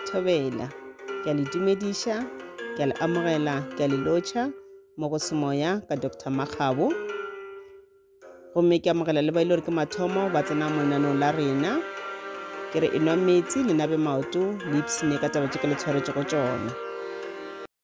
Thobela. Ke a le dumediša, ke a le amogela, ke a le lotšha mo go semoya ka Dr. Makgabo. Gomme ke amogela le ba e le gore ke mathomo ba tsena mo lenanong la rena. Ke re enwa metsi le nabe maoto le ipsene ka taba tše ke le tshwaretšego tšona.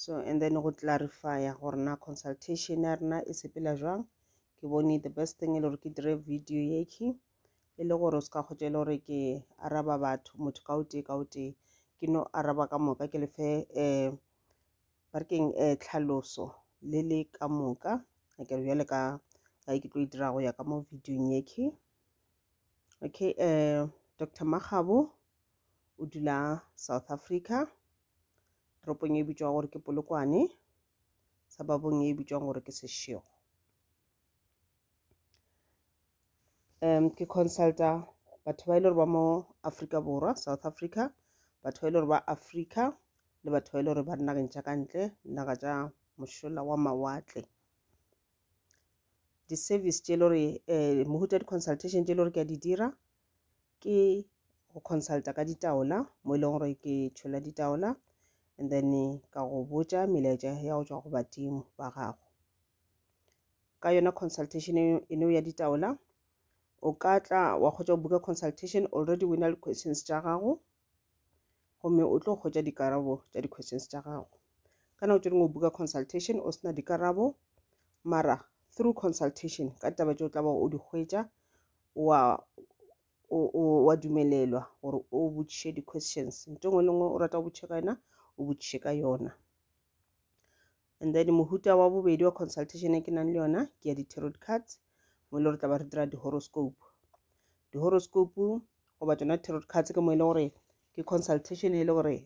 so and then go clarifya gore na consultation ya rena e sepela jwang ke bone the best thing e le gore ke dire video yeke e le gore o se ka kgotsa e le gore ke araba batho motho ka o tee ka o tee ke no araba ka moka ke lefe um ba re keng um tlhaloso le le ka moka a kere bjale ka ka ke tlo e dira go ya ka mo videong yeke okay um dr magabo o dula south africa toropong e bitšwago gore ke Polokwane, suburb-ong e bitšwago gore ke Seshego. Um ke consulta batho ba e le gore ba mo Afrika Borwa, South Africa, batho ba e le gore ba Afrika le batho ba e le gore ba dinageng tša ka ntle, dinaga tša mošola wa mawatle. Di-service tše e le gore um mohuta di-consultation tše e le gore ke a di dira, ke go consulta ka ditaola mo e leng gore ke tšhola ditaola and then ka go botša melaetša ya go tšwa go badimo ba gago ka yona consultation eno ya ditaola o ka tla wa kgotsa go buka consultation already o na le questions tša gago gomme o tlo hwetša dikarabo tša di-questions tša gago ka nako tše dingwe o buka consultation o sena dikarabo mara through consultation ka taba tše o tla ba o di hwetša wa wa dumelelwa gore o botšiše di-questions nto ngwe le ngwe o rata go botšiše ka yona o botšiše ka yona and then mohuta wa bobedi wa consultation e ke nang le yona ke ya di-tarot cards mo e le gore tla ba re dira di-horoscope di-horoscope goba tsona tarot cards ke mo e le gore ke consultation e le gore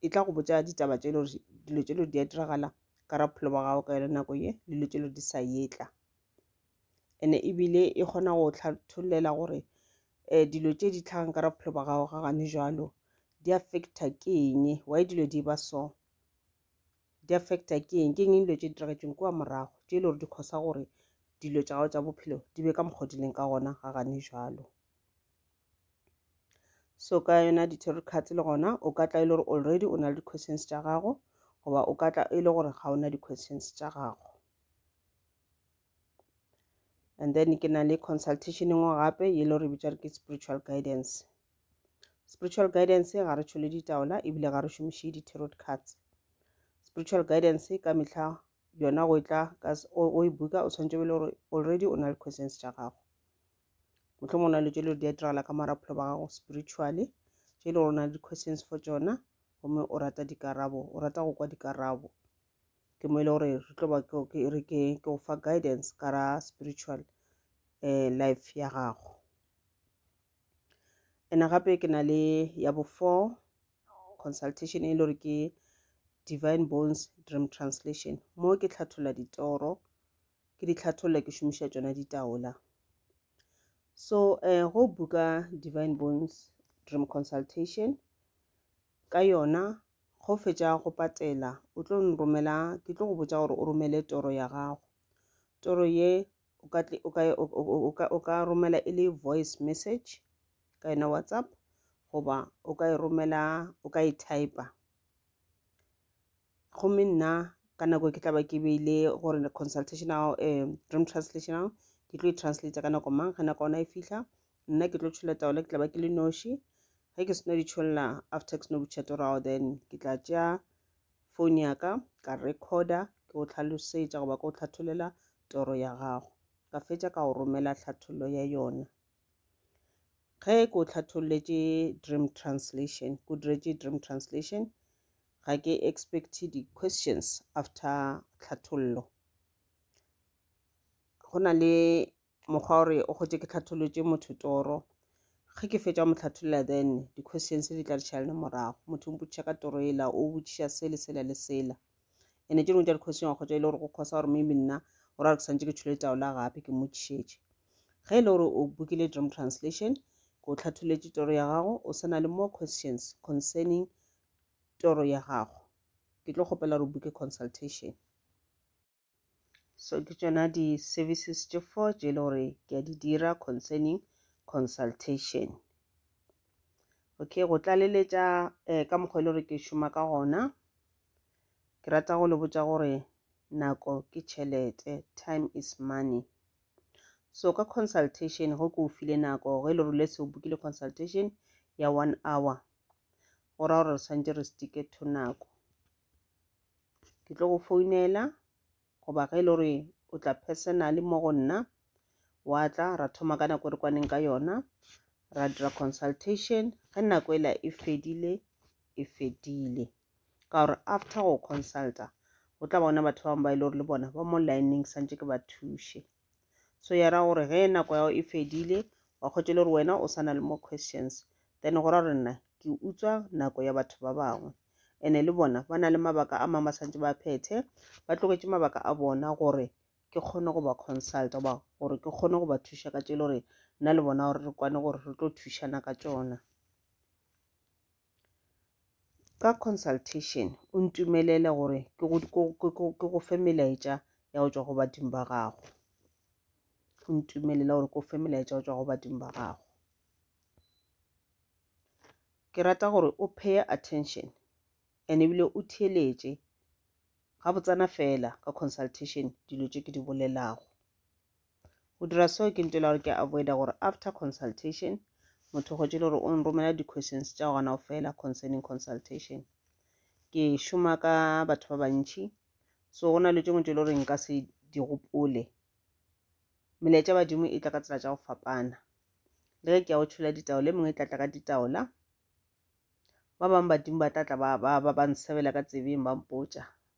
e tla go botsa ditaba tse e le gore dilo tse e le gore di a diragala ka ra bophelo ba gago ka yone nako ye le dilo tse e le gore di sa yetla and-e ebile e kgona go tlhatholela gore um dilo tse di tlhagang ka ra bophelo ba gago ga gane jalo di affecta ke eng why dilo di ba so di affecta ke eng ke eng dilo tše di diragetseng kua morago tše e le gore di kgosa gore dilo tša gago tša bophelo di be ka mokgwa di leng ka gona ga gane jalo so ka yona di-tarot cards le gona o ka tla e le gore already o na le di-questions tša gago goba o ka tla e le gore ga o na di-questions tša gago and then ke na le consultation engwe gape e le gore bitša re ke spiritual guidance spiritual guidance ga re tšhole ditaola ebile ga re šomiše di-tarot cards spiritual guidance ka mehla yona go e tla o e buka o tshwanetse bele gore already o na le questions tša gago motlho mongwe na le tšele gore di a diragala ka mora bophelo ba gago spiritually tše e le gore o na le di-questions for tsona gomme o rata dikarabo o rata go kwa dikarabo ke mo e le gore re tlo ba ke re ke go fa guidance ka ra spiritual um life ya gago ena gape ke na le ya bo four consultation e le gore ke divine bones dream translation mo ke tlhathola ditoro ke di tlhatholla ke šomiša tšona ditaola so um go buka divine bones dream consultation ka yona go fetša go patela o tlo nromela ke tlo go botša gore o romele toro ya gago toro ye o ka o ka o ka o ka romela e le voice message ka yona whatsapp goba o ka e romela o ka e typer gomme nna ka nako ke tla ba ke beile gore consultational um dream translational ke tlo e translate ka nako mang ge nako ona e fihla nna ke tlo tšhola taola ke tla ba ke le noši ge ke seno ditšholla after ke seno butšhete gore ao then ke tla tšea phone ya ka ka recorder ke go tlhalosetša goba ke go tlhatholela toro ya gago ka fetša ka go romela tlhathollo ya yona ge ke o tlhatholletše dream translation ke diretše dream translation ga ke expect di-questions after tlhathollo go na le mokgwa gore o gotše ke tlhatholotše motho toro ge ke fetša mo tlhatholela then di-questions di tla dišala le morago motho o mpotšiša ka toro ela o botšiša se le sela le sela ene tše dingwe tša di-question wa kgotša e le gore go kgosa gore maybe nna o ra re ke santse ke tshole taola gape ke mmotšišetše ge e le gore o bokile dream translation ke o tlhatholetše toro ya gago o sena le more questions concerning toro ya gago ke tlo kgopela gore o buke consultation So ke tšona di services tše four tše e le gore ke a di dira concerning consultation. Okay, go tlaleletša eh, ka mokgwa e le gore ke šoma ka gona ke rata go le botša gore nako ke tšhelete time is money so ka consultation go ke o file nako ge e le gore le se o bokile consultation ya one hour go ra gore re tshwanetse re stike to nako ke tlo go founela goba ge e le gore o tla personally mo go nna wa tla ra thoma ka nako e re kwaneng ka yona ra dira consultation ge nako ela e fedile e fedile ka gore after go consulta go tla bona batho ba bangwe ba e le gore le bona ba mo lineng santse ke ba thuše so ya ra gore ge nako ya go e fedile wa kgwetša le gore wena o sana le more questions then go ra gore nna ke utswa nako ya batho ba bangwe ene le bona ba na le mabaka a mangwe ba santse ba phethe ba tloketše mabaka a bona gore ke kgone go ba consulta goba gore ke kgone go ba thuša ka tše le gore nna le bona gore re kwane gore re tlo thušana ka tšona Ka consultation o ntumelele gore ke go, ke, ke, ke, ke go fe melaetša ya go tšwa go badimo ba gago. O ntumelele gore ke go fe melaetša ya go tšwa go badimo ba gago. Ke rata gore o pay attention and ebile o theeletše gabotsana fela ka consultation dilo tše ke di bolelago. Go dira seo ke ntšwela gore ke avoida gore after consultation motho go tšele gore o nromela di-questions tša gona o fela concerning consultation. Ke šoma ka batho ba bantšhi so go na le tšengwe tšele gore nka se di gopole. Melaetša badimo e tla ka tsela tša go fapana le ge ke ya go tšhola ditaola e mengwe e tla tla ka ditaola ba bangwe badimo ba tla tla ba ba ba ba nsebela ka tsebeng ba mpotša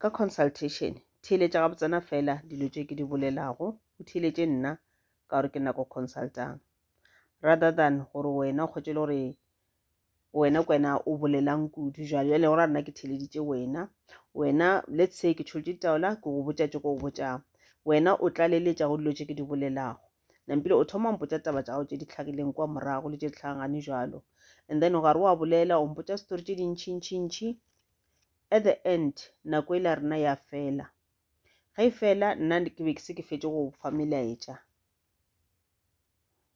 Ka consultation, theeletša gabotsana feela dilo tše ke di bolelago, o theeletše nna ka gore ke nako consultang. Rather than gore wena o kgotše le gore wena kwena o bolelang kudu jwale jwale go ra nna ke theleditše wena wena let's say ke tšholotše ditaola ke go botša tše ko go botšang wena o tlaleletša go dilo tše ke di bolelago nampile o thoma mpotša taba tša gago tše di tlhagileng kwa morago le tše di tlhagagane jalo and then o gare wa bolela o mpotša story tše dintšhintšhintšhi at the end nako e la rena ya fela ge e fela nna ke be ke se ke fetše go fa melaetša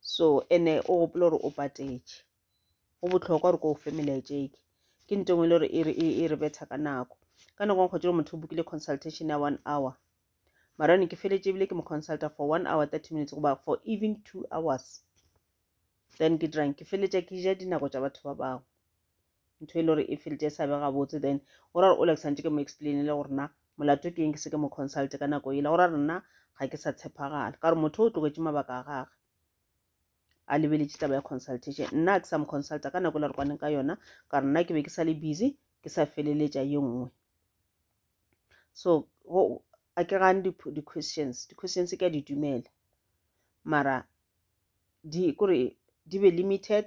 so ene o gopola gore o patetše go botlhokwa gore ko o fe melaetša eke ke nto engwe e le gore e, e, e re betha ka nako ka nako nkgwetse gore motho o bokile consultation ya one hour mara ne ke feletse ebile ke mo consulta for one hour thirty minutes goba for even two hours then ke dirang ke feletša ke ja dinako tša batho ba bangwe ntho e le gore e felt e sa be gabotse then o ra gore o le santse ke mo explainele gore na molato ke eng ke se ke mo consulte ka nako ele go ra gore nna ga ke sa tshepagala ka gore motho o tlogetse mabaka a gage a lebeletše taba ya consultation nna ke sa mo consulta ka nako e le re kwaneng ka yona ka gore nna ke be ke sa le busy ke sa feleletša ye nngwe so a ke gane di-questions di-questions ke a di dumela mara di kore di be limited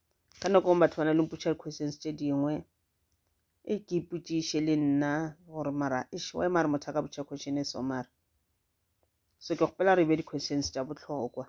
ka nako ngwe batho ba na le mpotša di-questions tše dingwe e ke ipotšiše le nna gore mara ešo wa mare motho a ka botša question e so mara so ke kgopela re be di-questions tša bohlokwa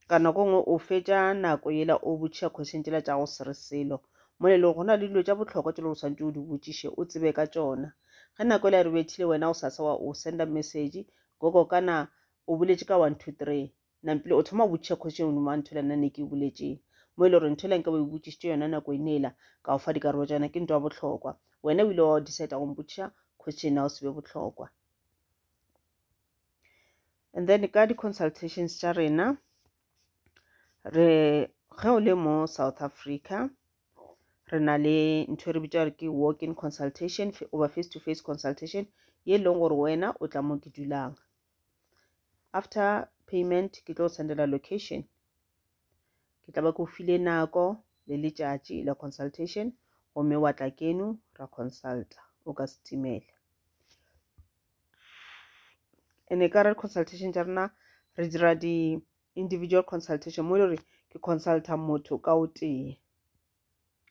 ka nako ngwe o fetša nako yela o botšiša question tšela tša go se re selo mo le go na le dilo tša bohlokwa tšelo o tshwanetse o di botšiše o tsebe ka tšona ge nako e la re bethile wena o sa sa wa o senda message gogo kana o boletše ka one two three Nampile o thoma go botšiša kgoši eno mo a nthola nna ne ke e boletše mo e le gore nthola nka ba e botšišitše yona nako e nela ka o fa dikarolo tša yona ke nto ya bohlokwa wena o ile wa decide go mpotšiša kgoši ena o se be bohlokwa and then ka di-consultations tša rena re ge o le mo south africa re na le ntho e re bitša gore ke walk in consultation over face to face consultation ye e leng gore wena o tla mo ke dulang after payment ke tlo sendela location ke tla ba ke o file nako le letšatši la consultation gomme wa tla keno ra consulta o ka setimela ene ka re consultation tša rena re dira di-individual consultation mo e le gore ke consulta motho ka o tee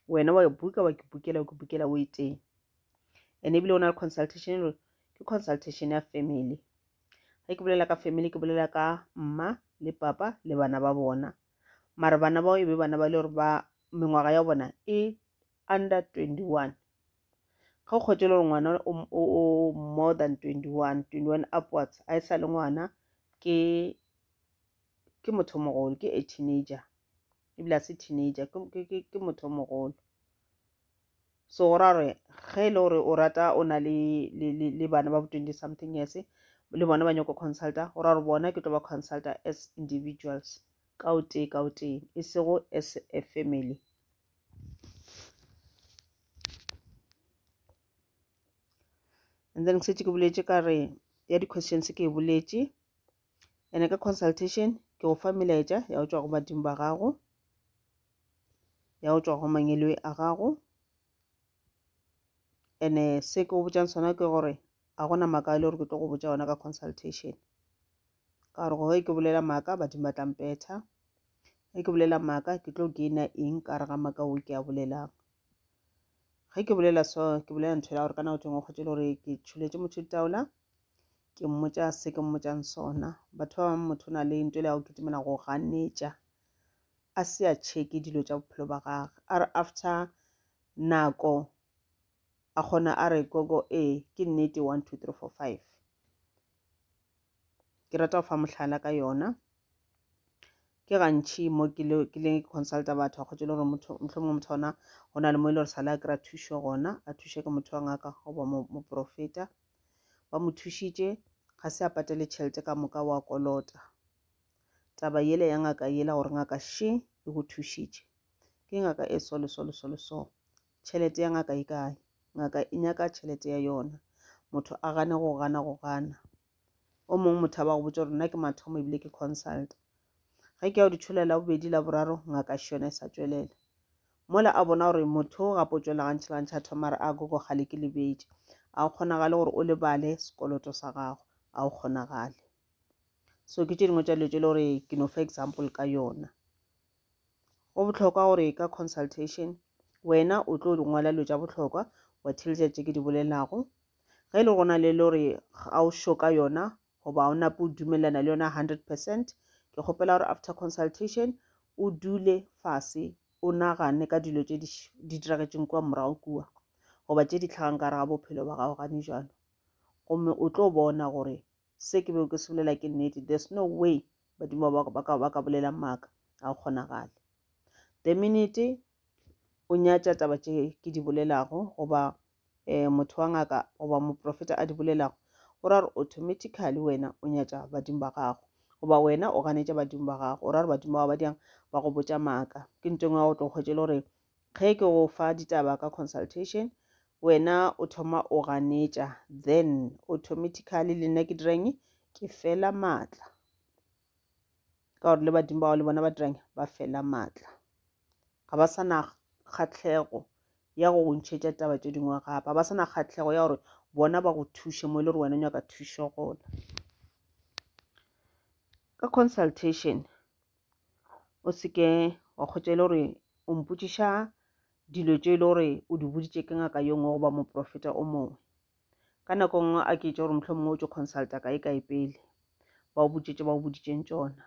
wena wa buka wa ke bukela wa ke bukela o iteng and ebile o na le consultation gore ke consultation ya family ge ke bolela ka family ke bolela ka mma le papa le bana ba bona mara bana bao e be bana ba le gore ba mengwaga ya bona e under 21 ga o kgotse le gore ngwana o more than 21 21 upwards a e sa le ngwana ke ke motho mogolo ke a teenager ebile a se teenager ke, ke, ke, ke motho o mogolo so go ra gore ge e le gore o rata o na le, le, le, le bana ba bo twenty something years le bona ba nyako consulta go ra gore bona ke tlo ba consulta as individuals ka o tee ka o tee e sego as a family and then ke setse ke boletše ka re ya di-questions ke e boletše ene ka consultation ke go fa melaetša ya go tšwa go badimo ba gago ya go tšwa go mangeloi a gago ene se ke go botšang sona ke gore a gona maaka a le gore ke tlo go botša ona ka consultation ka gore gore ke bolela maaka badimo ba tlampetha ge ke bolela maaka ke tlo gaina eng ka re ga maaka o ke a bolelang ge ke bolela so ke bolela ntho ya gore ka nako tšengwe o kgwetse le gore ke tšhuletše motho ditaola ke mmotsa se ke mmotsang sona batho ba bangwe motho o na le nto le ya go kitimela go ganetša a se a checke dilo tša bophelo ba gage a re after nako a kgona a re gogo ee ke nnete one two three four five ke rata go fa mohlala ka yona ke gantšhi mo ke le ke le consulta batho a kgotse le gore motho mohlomongwe motho ona go na le mo e le gore sale a kry-a thušo gona a thuše ke motho wa ngaka goba moporofeta ba mo thušitše ga se a patele tšhelete ka moka wa kolota taba yele ya ngaka yela gore ngaka she e go thušitše ke ngaka e so le so le so le so Tšhelete ya ngaka e kae? Ngaka e nyaka tšhelete ya yona. Motho a gane go gana go gana. O mongwe motho a ba go botša gore nna ke mathomo ebile ke consult. Ge ke ya go di tsholela la bobedi la boraro ngaka e šone e sa tšwelela. Mola a bona gore motho o gape o tšwela gantšha le gantšha a thoma re a gogo gale ke lebetše. A o kgonagale gore o lebale sekoloto sa gago. A o kgonagale. So ke tše dingwe tša dilo tše le gore ke no fa example ka yona. go bohlokwa gore ka consultation wena o tlo di ngwala dilo tša bohlokwa wa theletša tše ke di bolelago ge e le gona le le gore ga o sho ka yona goba o nape o dumelelana le yona hundred percent ke kgopela gore after consultation o dule fase o nagane ka dilo tše di diragetšeng kua morago kua goba tše di tlhagang ka re ga bophelo ba gago gane jalo gomme o tlo bona gore Se ke bego ke se bolela ke nnete. There's no way badimo ba ba ka ba ka bolela maaka. Ga go kgonagale. The minute o nyatša taba tše ke di bolelago goba um motho wa ngaka goba moprofeta a di bolelago o ra gore automatically wena o nyatša badimo ba gago goba wena o ganetša badimo ba gago o ra gore badimo ba ba diang ba go botša maaka ke ntho engwe ya go tlo kgwetše le gore Ge ke go fa ditaba ka consultation, wena o thoma o ganetša, then automatically le nna ke direng? Ke fela maatla. Ka gore le badimo ba le bona ba direng? Ba fela maatla. Ga ba sa na kgatlhego ya go go ntšhetša taba tše dingwe gape. Ga ba sa na kgatlhego ya gore bona ba go thuše mo e le gore wena o nyaka thušo gona. Ka consultation, o se ke wa kgotša e le gore o mpotšiša dilo tše e le gore o di boditše ke ngaka yo nngwe goba moprofeta o mongwe ka nako nngwe a ke itše gore mohlho mongwe o tšo consulta kae kae pele ba o botšetše ba o boditšeng tšona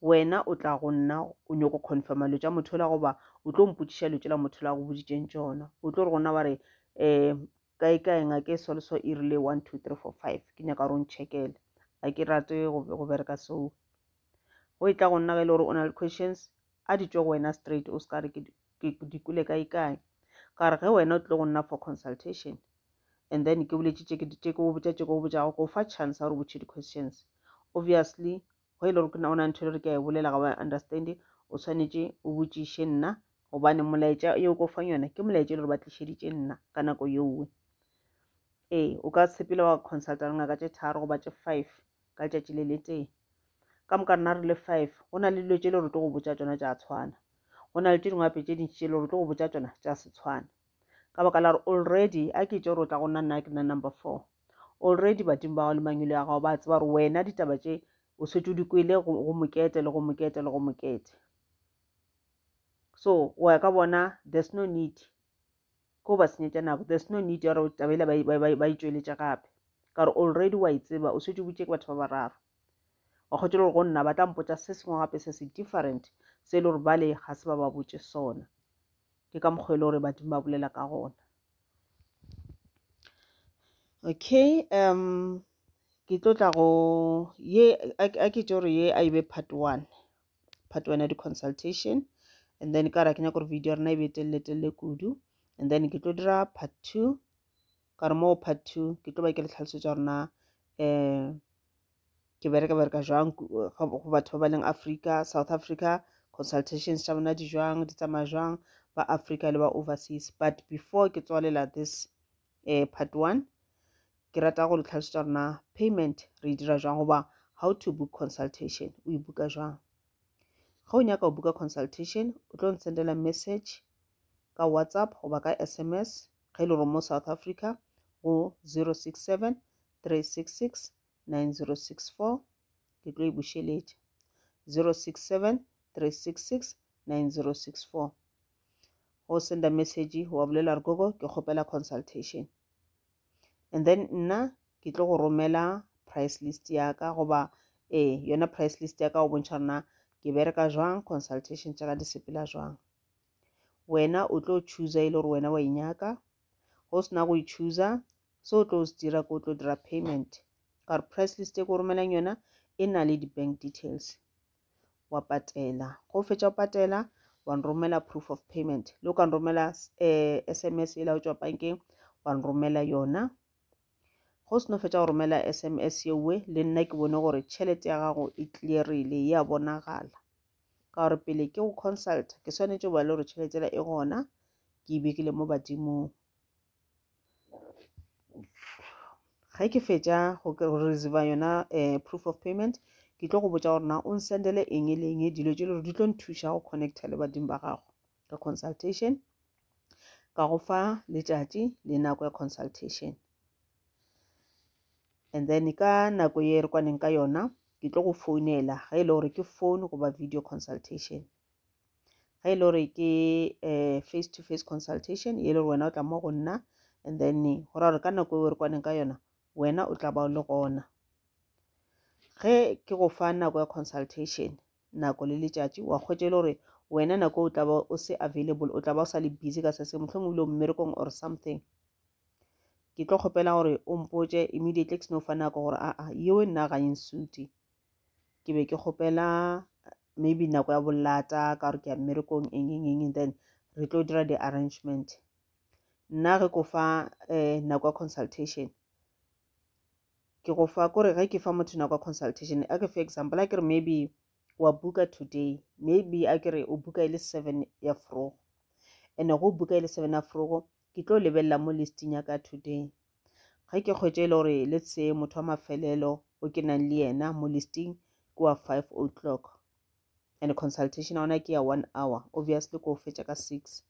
wena o tla go nna o nyoko confirma lo tša motho la goba o tlo mpotšiša lo tšela motho la go boditšeng tšona o tlo re gona wa re um kae kae ngake e sole so e rile one two three four five ke nyaka gore o nchekele a ke rate go bereka seo go e tla go nna ge e le gore o na le questions a di tšwe go wena straight o se ka re ke di kule kae kae ka re ge wena o tlile go nna for consultation and then ke boletše tše ke go botša tše ke go botšago go fa chance ya gore botšhe di-questions obviously go e le gore ke nna o na ntho e le gore ke a e bolela ga wa understand o tshwanetse o botšiše nna gobane molaetša yo o ko fang yona ke molaetša e le gore ba tlišeditše nna ka nako yowe ee o ka sepele wa consulta re ngaka tše tharo goba tše five ka letšatši le le tee ka moka rena re le five go na le dilo tše le gore tlo go botša tsona tša tshwana go na le tše dingwape tše dintši tše le gore tlo go botša tsona tša se tshwana ka baka la gore already a ke tše gore o tla go nna nna ke nna number four Already badimo ba gago le mangwele a gago ba tseba gore wena ditaba tše o setse o di kwele go mokete le go mokete le go mokete. So o ya ka bona there's no need ko ba senyetša nako there's no need ya gore tabela ba e tšweletše gape ka gore already wa e tseba o setse o butše ke batho ba bararo wa kgotse le gore go nna ba tla mpotsa se sengwe gape se se different se e le gore bale ga se ba ba botse sona ke ka mokgwa e le gore badimo ba bolela ka gona okay um ke tlo tla go ye a ke tšo re ye a e be part one part one ya di-consultation and then ka ra ke nyaka gore video ya rena e be telele telele kudu and then ke tlo dira part two ka re moo part two ke tlo ba ke le tlhalosetso ya rona um ke bereka bereka jwang go batho ba ba leng africa south africa consultations tša bona di jwang di tsamaya jwang ba africa le ba overseas but before ke tswalela this uh, part one ke rata go le tlhalosetsa rona payment re e dira jwang goba how to book consultation o e buka jwang ga o nyaka go buka consultation o tlo ntsendela message ka whatsapp goba ka sms ge e le gore mo south africa go 067 3669064 ke tlo e bušeletša 067 366 9064 go senda message wa bolela re gogo ke kgopela consultation and then nna ke tlo go romela price list ya ka goba ee yona price list ya ka go bontšha rena ke bereka jwang consultation tša ka di sepela jwang wena o tlo chooser e le gore wena wa inyaka go sena go ichooser se o tlo se dira ko o tlo dira payment ka gore price list e ko romelang yona e na le di-bank details wa patela go o fetša go patela wa nromela proof of payment le o ka nromela um eh, s m s e laotswa bankeng wa nromela yona Ge o seno fetša go romela SMS yeowe, le nna ke bone gore tšhelete ya gago e clearile, e a bonagala. Ka gore pele ke go consulta, ke swanetše go ba le gore tšhelete yela e gona, ke e bekile mo badimong. Ge ke fetša go reserva yona eh, proof of payment, ke tlo go botša gore na o nsendele eng le eng dilo tše le gore di tlo nthuša go connecta le badimo ba gago. ka consultation ka go fa letšatši le nako ya consultation and then ka nako ye re kwaneng ka yona ke tlo go founela ge e le gore ke phone goba video consultation ge e le gore ke um face to face consultation e le gore wena o tla mo go nna and then go ra gore ka nako eo re kwaneng ka yona wena o tla ba o le gona ge ke go fa nako ya consultation nako le letšatši wa kgwetša e le gore wena nako o tla ba o se available o tla ba o sa le busy ka sese mohlomong o ile mmerekong or something ke tlo kgopela gore o mpotše immediately ke seno fa nako gore aa yeo e nna ganyeng suti ke be ke kgopela maybe nako ya bolata ka gore ke ya mmerekong eng eng eng then re tlo dira di-arrangement nna re ko fa um nako ya consultation ke go fa kore ge ke fa motho nako ya consultation a ke fe example a ke re maybe wa buka today maybe a ke re o buka e le seven ya frogo and-e go buka e le seven ya frogo ke tlo lebelela mo listing ya ka today ge ke kgwetše e le gore le tse motho wa mafelelo o ke nang le yena mo listing ke wa five o'clock and consultation ya ona ke ya one hour obviously ko o fetša ka six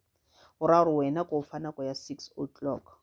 go raya gore wena ko o fa nako ya six o'clock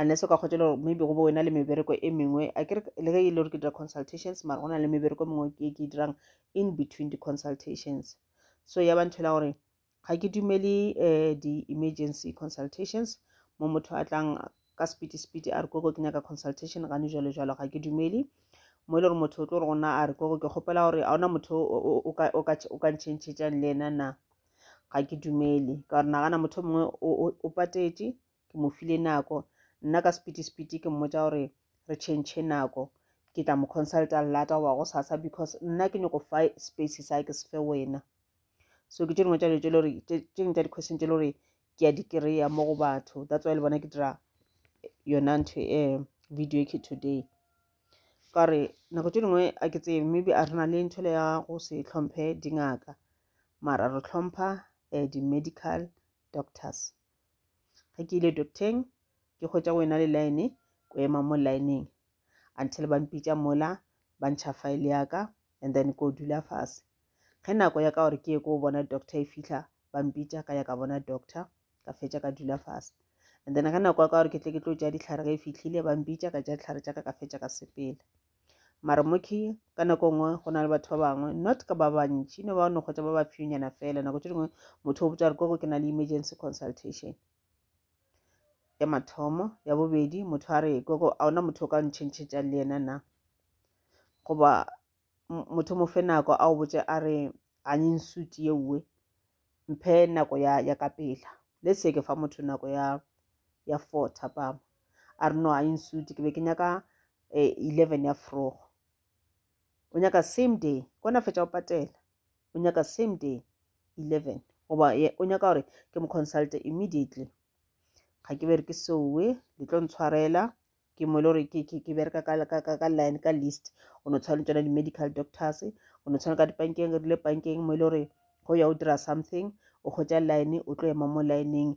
unless o ka kgotšela gore maybe go bo wena le mebereko e mengwe a ke le ge e le gore ke dira consultations mara go na le mebereko e mengwe ke ke dirang in between di-consultations so ya ba nthela gore ga ke dumele um di-emergency consultations mo motho a tlang ka sepiti sepiti a re koko ke nyaka consultation gane jalo jalo ga ke dumele mo e le gore motho o tlo gore gona a re koko ke kgopela gore a ona motho o ka ntšhentšhetšang le ena na ga ke dumele ka gore nagana motho mongwe o patetše ke mo file nako nna ka sepiti-sepiti ke mmotsa gore re change nako ke tla mo consulta lata goba go sasa because nna ke nyoko fa space sa ke se fe wena so ke tše dingwe tša dilo tše le gore tše dingwe tša di-question tše le gore ke ya di-kry-a mo go batho that's why le bona ke dira yona ntho um video ke today ka gore nako tše dingwe a ke tsebe maybe a re na le ntho le ya go se tlhomphe dingaka mara re tlhompha um di-medical doctors ge ke ile docteng ke kgwetsa go ena le line ko ema mo lineng until ba mpitša mola ba ntšha file ya ka and then ko dula fase ge nako ya ka gore ke ye ko bona doctor e fitlha ba mpitša ka ya ka bona doctor ka fetša ka dula fase and then ge nako ya ka gore ke tle ke tlo tša ditlhare ge e fitlhile ba mpitša ka tša ditlhare tša ka ka fetša ka sepela Mara moki ka nako nngwe go na le batho ba bangwe not ka ba bantši no ba no kgotsa ba ba fewnyana fela nako tše dingwe motho o botsa gore koko ke na le emergency consultation ya mathomo ya bobedi motho a re koko a ona motho o ka ntšhentšhetšang le yena na goba motho mo fe nako a o botse a re a nye nsuti ye uwe mphe nako ya, ya ka pela le seke fa motho nako ya, ya four thapama a re no a e nsuti ke be ke nyaka eh, eleven ya frogo o nyaka same day kona fetša o patela o nyaka same day eleven goba o nyaka gore ke mo consulte immediately ga ke bereke seowe le tlo ntshwarela ke mo e le gore ke bereka ka line ka list o no tshwana le tsona di-medical doctors o no tshwana ka dipankeng re rile pankeng mo e le gore go ya o dira something o kgotsa line o tlo ema mo lineng